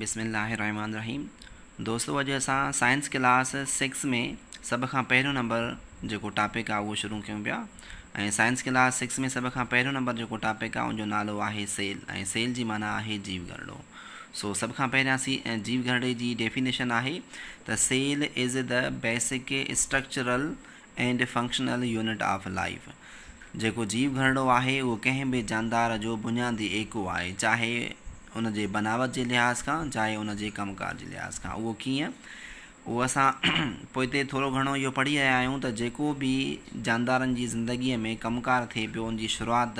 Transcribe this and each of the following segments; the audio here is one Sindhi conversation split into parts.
بسم الله الرحمٰن الرحيم دوستو اڄ اسان سائنس ڪلاس سڪس ۾ سڀ کان پهريون نمبر جيڪو ٽاپڪ آهي اهو شروع ڪيون پيا ۽ سائنس ڪلاس سڪس ۾ سڀ کان پهريون نمبر جيڪو ٽاپڪ آهي ان جو نالو آهي سيل ۽ سيل جي معنيٰ آهي جيو گهرڙو سو سڀ کان پهريان سي جيو گهرڙي جي ڊيفينيشن آهي ته cell is the basic structural and functional unit of life, جيڪو جيو گهرڙو آهي، اهو ڪنهن به جاندار جو بنيادي ايڪو آهي، چاهي ان جي بناوت جي لحاظ کان، چاهي ان جي ڪم ڪار جي لحاظ کان. اهو ڪيئن؟ اهو اسان پوئتي ٿورو گهڻو اهو پڙهي رهيا آهيون ته جيڪو به جاندارن جي زندگيء ۾ ڪم ڪار ٿئي پيو، ان جي شروعات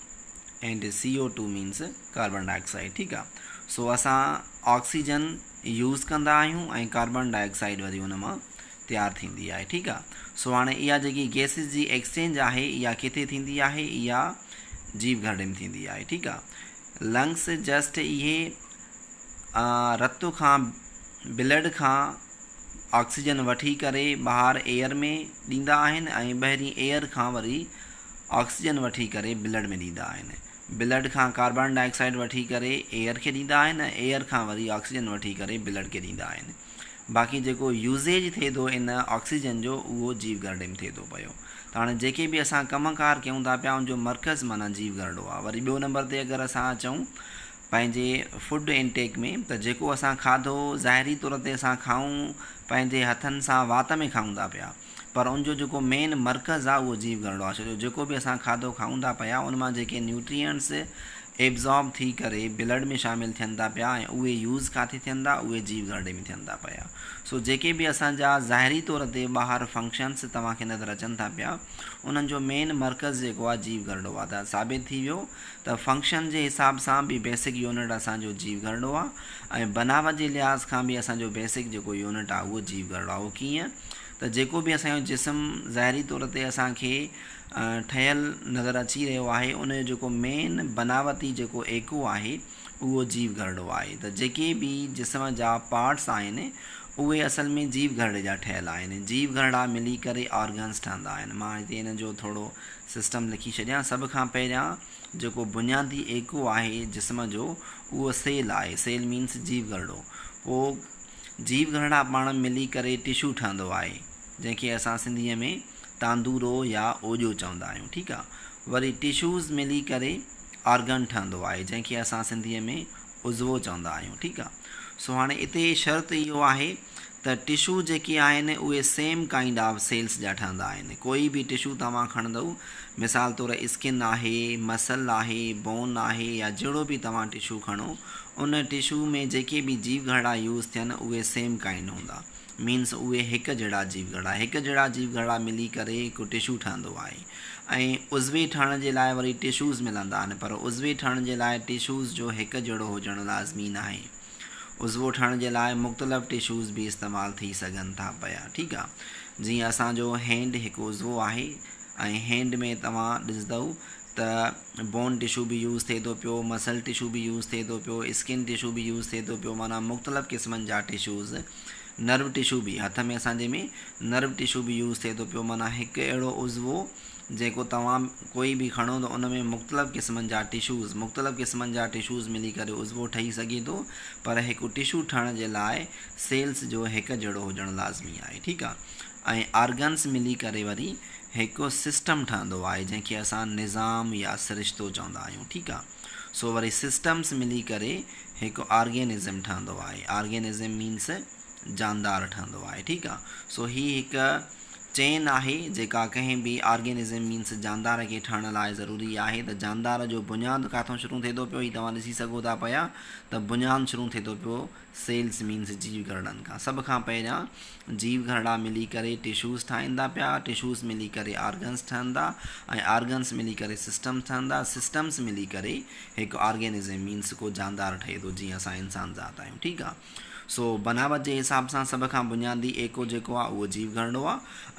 and CO2 means Carbon Dioxide ٺيڪ آ سو اسان آڪسيجن يوز ڪندا آهيون ۽ ڪاربان ڊاء آڪسائيڊ وري ان مان تيار ٿيندي آهي ٺيڪ آ سو هاڻي اها جيڪي گيسز جي ايڪسچينج آهي اها ڪٿي ٿيندي آهي اها جيب گهرڙي ۾ ٿيندي آهي ٺيڪ آ لنگس جسٽ اهي رت کان بلڊ کان آڪسيجن وٺي ڪري ٻاهر ايئر ۾ ڏيندا آهن ۽ ٻاهرين ايئر کان وري آڪسيجن وٺي ڪري بلڊ ۾ ڏيندا آهن. بلڊ کان ڪاربان ڊاء آڪسائيڊ وٺي ڪري ايئر کي ڏيندا آهن ۽ ايئر کان وري آڪسيجن وٺي ڪري بلڊ کي ڏيندا آهن. باقي جيڪو يوزيج ٿئي ٿو ان آڪسيجن جو اهو جيو گرڊي ۾ ٿئي ٿو پيو. ته هاڻي جيڪي به اسان ڪم ڪار ڪيون ٿا پيا ان جو مرڪز معنيٰ جيو گرڊو آهي. وري ٻيو نمبر تي اگر اسان اچون پنهنجي فوڊ ان ٽيڪ ۾ ته جيڪو اسان کاڌو ظاهري طور تي اسان کائون پنهنجي هٿن سان وات ۾ کائون ٿا پيا. پر ان جو جيڪو مين مرڪز آ اهو جيو گهرڙو آ ڇو جو جيڪو به اسان کاڌو کائون ٿا پيا ان مان جيڪي نيوٽرينٽس ايبزارب ٿي ڪري بلڊ ۾ شامل ٿين ٿا پيا ۽ اهي يوز ڪاٿي ٿين ٿا اهي جيو گهرڙي ۾ ٿين ٿا پيا سو جيڪي به اسان جا ظاهري طور تي ٻاهر فنڪشنس توهان کي نظر اچن ٿا پيا انهن جو مين مرڪز جيڪو آ جيو گهرڙو آ ته ثابت ٿي ويو ته فنڪشن جي حساب سان به بيسڪ يونٽ اسان جو جيو گهرڙو آ ۽ بناوت جي لحاظ کان به اسان جو بيسڪ جيڪو يونٽ آ اهو جيو گهرڙو آ اهو ڪيئن ته جيڪو به اسان جو جسم ظاهري طور تي اسان کي ٺهيل نظر اچي رهيو آهي ان جو جيڪو مين بناوتي جيڪو ايڪو آهي اهو جيو گهرڙو آهي ته جيڪي به جسم جا پارٽس آهن اهي اصل ۾ جيو گهرڙي جا ٺهيل آهن جيو گهرڙا ملي ڪري آرگنز ٺهندا آهن مان هتي ان جو ٿورو سسٽم لکي ڇڏيان سڀ کان پهريان جيڪو بنيادي ايڪو آهي جسم جو اهو سيل آهي سيل مينس جيو گهرڙو پوء جيو گهرڙا پاڻ ملي ڪري ٽشو ٺهندو آهي جنهن کي اسان سنڌيء ۾ تاندورو يا اوڄو چوندا آهيون ٺيڪ آ وري ٽشوز ملي ڪري آرگن ٺهندو آهي جنهن کي اسان سنڌيء ۾ عضوو چوندا آهيون ٺيڪ آ سو هاڻي اتي شرط اهو آهي ته ٽشو جيڪي آهن اهي سيم ڪائنڊ آف سيلز جا ٺهندا آهن ڪوئي به ٽشو توهان کڻندؤ مثال طور اسڪن آهي مسل آهي بون آهي يا جهڙو به توهان ٽشو کڻو ان ٽشو ۾ جيڪي به جيو گهرڙا يوز ٿين اهي سيم ڪائنڊ هوندا مينس اهي هڪ جهڙا جيو گهرڙا هڪ جهڙا جيو گهرڙا ملي ڪري هڪ ٽشو ٺهندو آهي ۽ عضوي ٺهڻ جي لاء وري ٽشوز ملندا آهن پر عضوي ٺهڻ جي لاء ٽشوز جو هڪ جهڙو هجڻ لازمي ناهي عضوو ٺهڻ جي لاء مختلف ٽشوز به استعمال ٿي سگهن ٿا پيا ٺيڪ آ جيئن اسان جو هينڊ هڪ عضوو آهي ۽ هينڊ ۾ توهان ڏسدؤ ته بون ٽشو به يوز ٿئي ٿو پيو، مسل ٽشو به يوز ٿئي ٿو پيو، اسڪن ٽشو به يوز ٿئي ٿو پيو معنيٰ مختلف قسمن جا ٽشوز، نرو ٽشو به هٿ ۾ اسان جي ۾ نرو ٽشو به يوز ٿئي ٿو پيو معنيٰ هڪ اهڙو عضوو جيڪو توهان ڪوئي به کڻو ته ان ۾ مختلف قسمن جا ٽشوز مختلف قسمن جا ٽشوز ملي ڪري عضوو ٺهي سگهي ٿو پر هڪ ٽشو ٺهڻ جي لاء سيلز جو هڪ جهڙو هجڻ لازمي آهي ٺيڪ آهي. ۽ آرگنز ملي ڪري وري هڪ سسٽم ٺهندو آهي جنهن کي اسان نظام يا سرشتو چوندا آهيون ٺيڪ آ سو وري سسٽمز ملي ڪري هڪ آرگينزم ٺهندو آهي آرگينزم مينس جاندار ٺهندو آهي ٺيڪ آ سو هي هڪ چين آهي جيڪا ڪنهن به آرگينزم مينس جاندار کي ٺهڻ لاء ضروري آهي ته جاندار جو بنياد ڪاٿو شروع ٿي ٿو پيو هي توهان ڏسي سگهو ٿا پيا ته بنيان شروع ٿي ٿو پيو سيلز مينز جيو گهرڙن کان سڀ کان پهريان جيو گهرڙا ملي ڪري ٽشوز ٺاهيندا پيا، ٽشوز ملي ڪري آرگنز ٺهندا ۽ آرگنز ملي ڪري سسٽمز ٺهندا، سسٽمز ملي ڪري هڪ آرگينزم مينز ڪو جاندار ٺهي ٿو جيئن اسان انسان ذات آهيون ٺيڪ آ سو بناوت جي حساب سان سڀ کان بنيادي ايڪو جيڪو آ اهو جيو گهرڙو آ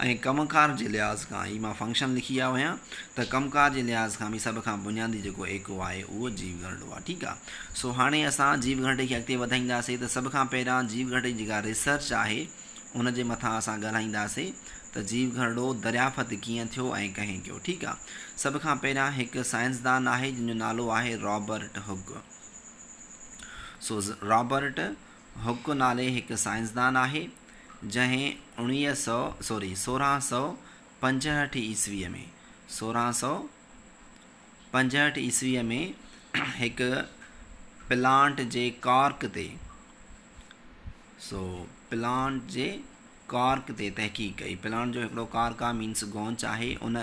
۽ ڪم ڪار جي لحاظ کان هي مان فنڪشن لکي آيو آهيان ته ڪم ڪار جي لحاظ کان به سڀ کان بنيادي جيڪو ايڪو آهي اهو جيو گهرڙو آ ٺيڪ آ. سو هاڻي اسان جيو گهرٽي کي اڳتي وڌائينداسين ته سڀ کان پهريان جيو گهرٽي جي جيڪا ريسرچ آهي ان جي مٿان اسان ڳالهائينداسين ته جيو گهرڙو دريافت ڪيئن ٿيو ۽ ڪنهن ڪيو ٺيڪ آ سڀ کان پهريان هڪ سائنسدان آهي جنهن جو نالو آهي رابرٽ هڪ سو رابرٽ هڪ نالي هڪ سائنسدان آهي جنهن اڻويهه سو سوري سورهن سو پنجهٺ عيسوي ۾ سورهن سو پنجهٺ عيسويء ۾ هڪ پلانٽ جي ڪارڪ تي سو پلانٽ جي ڪارڪ تي تحقيق ڪئي پلانٽ جو هڪڙو ڪارڪ آهي مينس گونچ آهي ان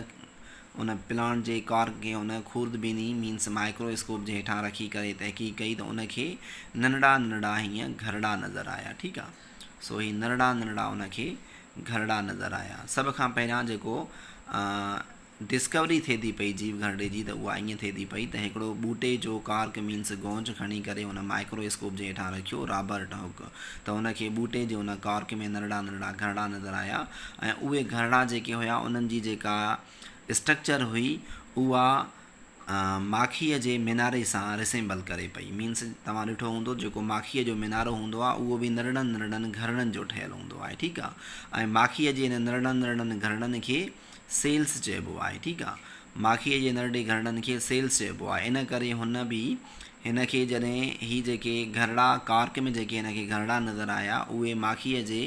ان پلانٽ جي ڪارڪ کي ان خورد بيني مينس مائڪرو اسڪوپ جي هيٺان رکي ڪري تحقيق ڪئي ته ان کي ننڍڙا ننڍڙا هيئن گهرڙا نظر آيا ٺيڪ آهي سو هي ننڍڙا ننڍڙا ان کي گهرڙا نظر آيا سڀ کان پهريان جيڪو ڊسڪوري ٿئي ٿي پئي جيو گهرڙي جي ته اها ائين ٿئي ٿي پئي ته هڪڙو ٻوٽي جو ڪارڪ مينس گونج کڻي ڪري ان مائڪرو اسڪوپ جي هيٺان رکيو رابرٽ هوڪ ته ان کي ٻوٽي جي ان ڪارڪ ۾ ننڍڙا ننڍڙا گهرڙا نظر آيا ۽ اهي گهرڙا جيڪي هيا انهن جي جيڪا اسٽرڪچر هئي اها ماکيء جي ميناري سان رسيمبل ڪري پئي مينس توهان ڏٺو هوندو جيڪو ماکيء جو مينارو هوندو آهي اهو به ننڍڙن ننڍڙن گهرڙن جو ٺهيل هوندو آهي ٺيڪ آهي ۽ ماکيء جي ان ننڍڙن ننڍڙن گهرڙن کي سيلس چئبو آهي ٺيڪ آ ماکيء جي نرڙي گهرڙن کي سيلس چئبو آهي ان ڪري هن به هن کي جڏهن هي جيڪي گهرڙا ڪارڪ ۾ جيڪي هن کي گهرڙا نظر آيا اهي ماکيء جي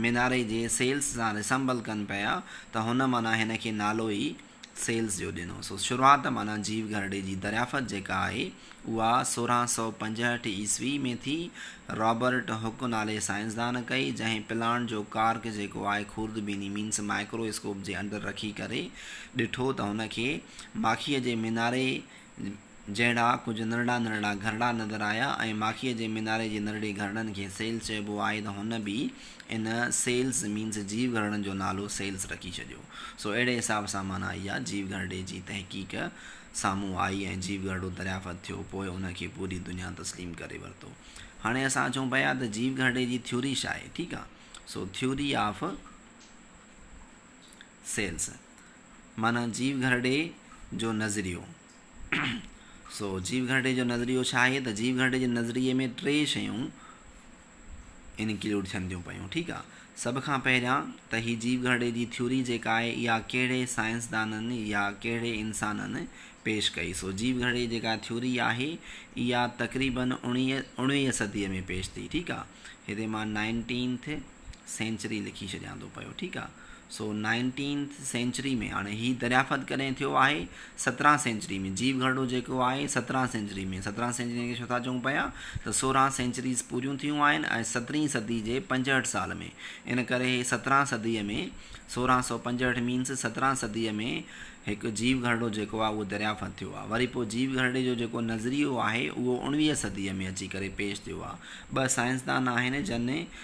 ميناري جي سيلس سان ريسمبل ڪن پيا ته هن معنيٰ هن کي نالو ئي سيلس جو ڏنو سو شروعات معنيٰ جيو گهرڙي جي دريافت جيڪا آهي اها سورهن سؤ پنجهٺ عيسوي ۾ ٿي، رابرٽ هڪ نالي سائنسدان ڪئي، جنهن پلانٽ جو ڪارڪ جيڪو آهي خوردبيني مينس مائڪرو اسڪوپ جي اندر رکي ڪري ڏٺو ته هن کي ماکيء جي ميناري جهڙا ڪجهه نرڙا نرڙا گهرڙا نظر آيا ۽ ماکيء جي ميناري جي نرڙي گهرڙن کي سيلز چئبو آهي ته هن به ان سيلز مينس جيو گهرڙن جو نالو سيلز رکي ڇڏيو سو اهڙي حساب سان معنيٰ اها جيو گهرڙي جي تحقيق سامهون آئي ۽ جيو گهرڙو دريافت ٿيو، پوء ان کي پوري دنيا تسليم ڪري ورتو. هاڻي اسان اچون پيا ته جيو گهرڙي جي ٿيوري ڇا آهي، ٺيڪ آ. سو ٿيوري آف سيلز معنيٰ جيو گهرڙي جو نظريو. سو جيو گهرڙي جو نظريو ڇا آهي ته جيو گهرڙي جي نظريي ۾ ٽي شيون. انڪلوڊ ٿين ٿيون پيون ٺيڪ آ سڀ کان پهريان ته هي جيو گهرڙي جي ٿيوري جيڪا آهي اها ڪهڙي سائنسدانن يا ڪهڙي انسانن پيش ڪئي سو جيو گهرڙي جيڪا ٿيوري آهي اها تقريبن اڻويهه صدي ۾ پيش ٿي ٺيڪ آ هتي مان نائنٽينٿ سينچري لکي ڇڏيان ٿو پيو ٺيڪ آ سو نائنٽينٿ سينچري ۾ هاڻي هي دريافت ڪڏهن ٿيو آهي سترهن سينچري ۾ جيو گهرڙو جيڪو آهي سترهن سينچري ۾ سترهن سينچري کي ڇو ٿا چئون پيا ته سورهن سينچريز پوريون ٿيون آهن ۽ سترهين صدي جي پنجهٺ سال ۾ ان ڪري هي سترهن صدي ۾ سورهن سو پنجهٺ مينس سترهن صدي ۾ هڪ جيو گهرڙو جيڪو آهي اهو دريافت ٿيو آهي وري پوء جيو گهرڙي جو جيڪو نظريو آهي اهو اوڻويهه صدي ۾ اچي ڪري پيش ٿيو آهي ٻه سائنسدان آهن جن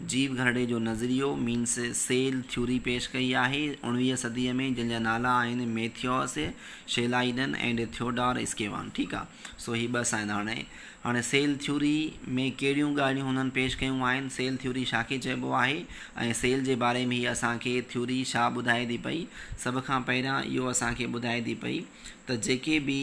جيو گھرڙي جو نظريو، مينس سيل ٿيوري، پيش ڪئي آهي اوڻويهه صديء ۾ جن جا نالا آهن ميٿيوس شيلائيڊن اينڊ ٿيوڊار اسڪيوان ٺيڪ آ سو هي ٻه سائين هاڻي هاڻي سيل ٿيوري ۾ ڪهڙيون ڳالهيون هنن پيش ڪيون آهن سيل ٿيوري ڇا کي چئبو آهي ۽ سيل جي باري ۾ هي اسان کي ٿيوري ڇا ٻڌائي ٿي پئي سڀ کان پهريان اهو اسان کي ٻڌائي ٿي پئي ته جيڪي به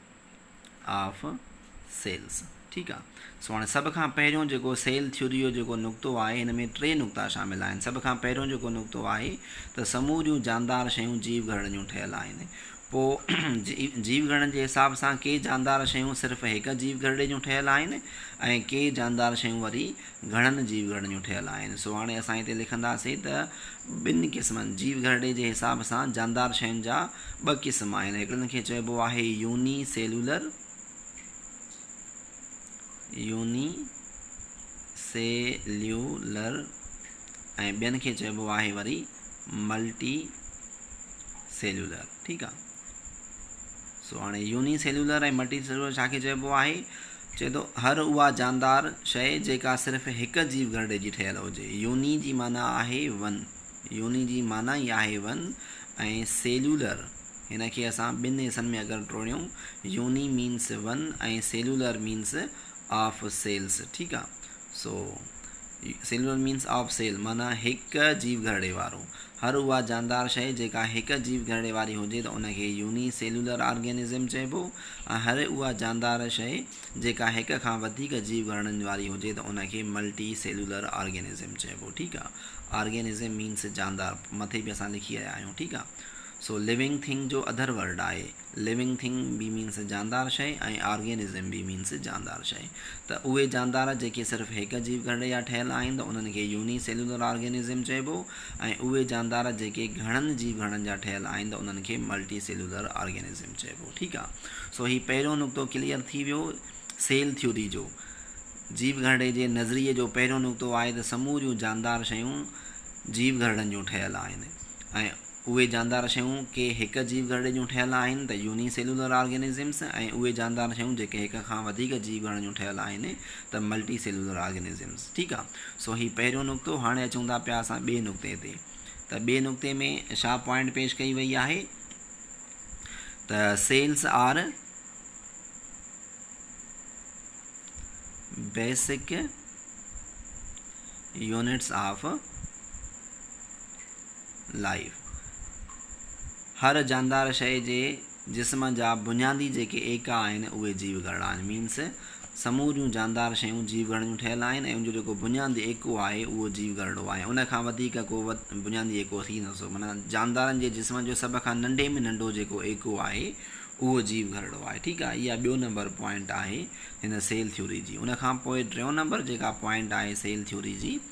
آف سيلز ٺيڪ آ سو هاڻي سڀ کان پهريون جيڪو سيل ٿيوري جو جيڪو نقطو آهي هن ۾ ٽي نقطا شامل آهن سڀ کان پهريون جيڪو نقطو آهي ته سموريون جاندار شيون جيو گهرڙن جون ٺهيل آهن پو جيو گهرڙن جي حساب سان ڪي جاندار شيون صرف هڪ جيو گهرڙي جون ٺهيل آهن ۽ ڪي جاندار شيون وري گهرڙن جيو گهرڙيون ٺهيل آهن، سو هاڻي اسان هتي لکنداسين ته ٻن قسمن، جيو گهرڙي جي حساب سان جاندار شين جا ٻه قسم آهن، هڪڙن کي چئبو آهي يوني سيلولر، Unicellular، ۽ ٻين کي چئبو آهي وري ملٽي سيلولر، ٺيڪ آ. سو هاڻي يوني سيلولر ۽ ملٽي سيلولر ڇا کي چئبو آهي؟ چئي ٿو هر اها جاندار شيء جيڪا صرف هڪ جيو گهرڙي جي ٺهيل هجي. يوني جي معنيٰ آهي ون. يوني جي معنيٰ ئي آهي ون ۽ سيلولر هن کي اسان ٻن حصن ۾ اگر ٽوڙيون uni means one ۽ cellular means of cells ٺيڪ آ. سو، Silver means of Sale، معنيٰ هڪ جيو گهرڙي وارو. هر اها جاندار شيء جيڪا هڪ جيو گهرڙي واري هجي ته ان کي يوني سيلولر آرگينزم چئبو ۽ هر اها جاندار شيء جيڪا هڪ کان وڌيڪ جيو گهرڙن واري هجي ته ان کي ملٽي سيلولر آرگينزم چئبو ٺيڪ آ Organism means جاندار مٿي به اسان لکي آيا آهيون ٺيڪ آ سو، Living thing جو Other word آهي. Living thing به مينس جاندار شيء ۽ Organism به مينس جاندار شيء. ته اهي جاندار جيڪي صرف هڪ جيو گهرڙي جا ٺهيل آهن ته انهن کي يوني سيلولر آرگينزم چئبو ۽ اهي جاندار جيڪي گهڻن جيو گهرڙن جا ٺهيل آهن ته انهن کي ملٽي سيلولر آرگينزم چئبو ٺيڪ آ سو هي پهريون نقطو ڪليئر ٿي ويو سيل ٿيوري جو جيو گهرڙي جي نظريي جو پهريون نقطو آهي ته سموريون جاندار شيون جيو گهرڙن جون ٺهيل آهن ۽ اهي جاندار شيون ڪي هڪ جيو گهرڙي جون ٺهيل آهن ته يوني سيلولر آرگينزمز ۽ اهي جاندار شيون جيڪي هڪ کان وڌيڪ جيو گهرڙن جون ٺهيل آهن ته ملٽي سيلولر آرگينزمز ٺيڪ آ سو هي پهريون نقطو هاڻي اچون ٿا پيا اسان ٻئي نقطي تي ته ٻئي نقطي ۾ شا پوائنٽ پيش ڪئي وئي آهي ته cells are basic units of Live، هر جاندار شيء جي جسم جا بنيادي جيڪي ايڪا آهن اهي جيو گهرڙا آهن Means سموريون جاندار شيون جيو گهرڙيون ٺهيل آهن ۽ ان جو جيڪو بنيادي ايڪو آهي اهو جيو گهرڙو آهي ان کان وڌيڪ ڪو بنيادي ايڪو ٿي نه سگهو معنيٰ جاندارن جي جسم جو سڀ کان ننڍي ۾ ننڍو جيڪو ايڪو آهي اهو جيو گهرڙو آهي ٺيڪ آهي اها ٻيو نمبر پوائنٽ آهي هن سيل ٿيوري جي ان کان پوء ٽيون نمبر جيڪا پوائنٽ آهي سيل ٿيوري جي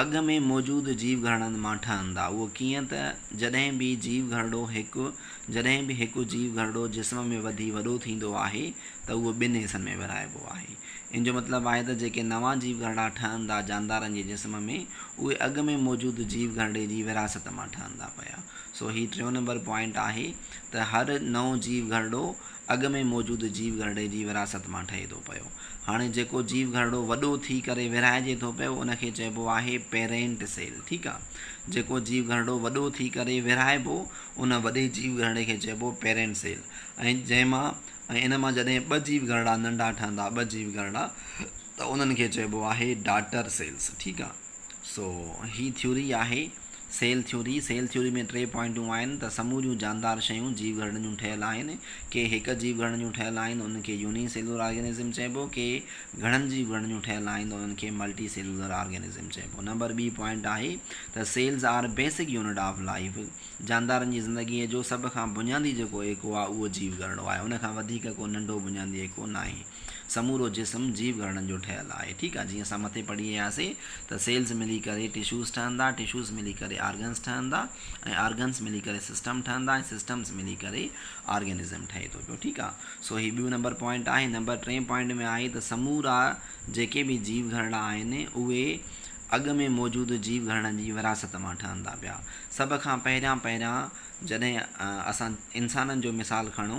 اڳ ۾ موجود جيو گهرڙن مان ٺهندا. اهو ڪيئن ته جڏهن به جيو گهرڙو هڪ جڏهن به هڪ جيو گهرڙو جسم ۾ وڌي وڏو ٿيندو آهي ته اهو ٻن حصن ۾ ورهائبو آهي. ان جو مطلب آهي ته جيڪي نوان جيو گهرڙا ٺهندا جاندارن جي جسم ۾ اهي اڳ ۾ موجود جيو گهرڙي جي ورهاست مان ٺهندا پيا. سو هي ٽيون نمبر پوائنٽ آهي ته هر نئون جيو گهرڙو اڳ ۾ موجود جيو گهرڙي جي وراثت مان ٺهي ٿو پيو. هاڻي جيڪو جيو گهرڙو وڏو ٿي ڪري ورهائجي ٿو پيو ان کي چئبو آهي پيرينٽ سيل ٺيڪ آ. جيڪو جيو گهرڙو وڏو ٿي ڪري ورهائبو ان وڏي جيو گهرڙي کي چئبو پيرينٽ سيل ۽ جنهن مان ۽ ان مان جڏهن ٻه جيو گهرڙا ننڍا ٺهندا ٻه جيو گهرڙا ته انهن کي چئبو آهي ڊاٽر سيلز ٺيڪ آ. سو هي ٿيوري آهي. سيل ٿيوري، سيل ٿيوري ۾ ٽي پوائنٽون آهن ته سموريون جاندار شيون جيو گهرڙن جون ٺهيل آهن. ڪي هڪ جيو گهرڙن جون ٺهيل آهن انهن کي يوني سيلولر آرگينزم چئبو، ڪي گهڻن جيو گهرڙن جون ٺهيل آهن ته انهن کي ملٽي سيلولر آرگينزم چئبو. نمبر ٻي پوائنٽ آهي ته cells are basic unit of life, جاندارن جي زندگيء جو سڀ کان بنيادي جيڪو ايڪو آهي اهو جيو گهرڙو آهي، ان کان وڌيڪ ڪو ننڍو بنيادي ايڪو ناهي. سمورو جسم جيو گهرڙن جو ٺهيل آهي ٺيڪ آهي جيئن اسان مٿي پڙهي آياسين ته سيلز ملي ڪري ٽشوز ٺهندا ٽشوز ملي ڪري آرگنز ٺهندا ۽ آرگنز ملي ڪري سسٽم ٺهندا ۽ سسٽمز ملي ڪري آرگنزم ٺهي ٿو پيو ٺيڪ آهي سو هي ٻيون نمبر پوائنٽ آهي نمبر ٽين پوائنٽ ۾ آهي ته سمورا جيڪي به جيو گهرڙا آهن اهي اڳ ۾ موجود جيو گهرڙن جي وراثت مان ٺهندا پيا سڀ کان پهريان پهريان جڏهن اسان انسانن جو مثال کڻو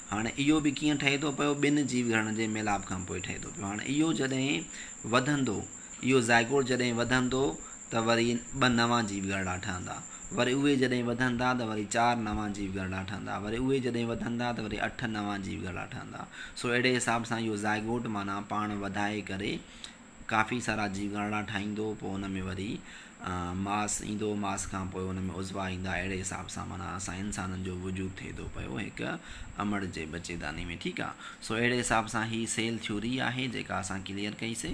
هاڻي اهو به ڪيئن ٺهي ٿو پيو؟ ٻن جيو گهرڙن جي ميلاپ کان پوء ٺهي ٿو پيو. هاڻي اهو جڏهن وڌندو، اهو زائگوٽ جڏهن وڌندو ته وري ٻه نوان جيو گهرڙا ٺهندا. وري اهي جڏهن وڌندا ته وري چار نوان جيو گهرڙا ٺهندا. وري اهي جڏهن وڌندا ته وري اٺ نوان جيو گهرڙا ٺهندا. سو اهڙي حساب سان اهو زائگوٽ معنيٰ پاڻ وڌائي ڪري ڪافي سارا جيگاڻا ٺاهيندو پوء ان ۾ وري ماس ايندو ماس کان پوء ان ۾ عضوا ايندا اهڙي حساب سان معنيٰ اسان انسانن جو وجود ٿئي ٿو پيو هڪ امڙ جي ٻچيداني ۾ ٺيڪ آ سو اهڙي حساب سان هي سيل ٿيوري آهي جيڪا اسان ڪليئر ڪئي سي.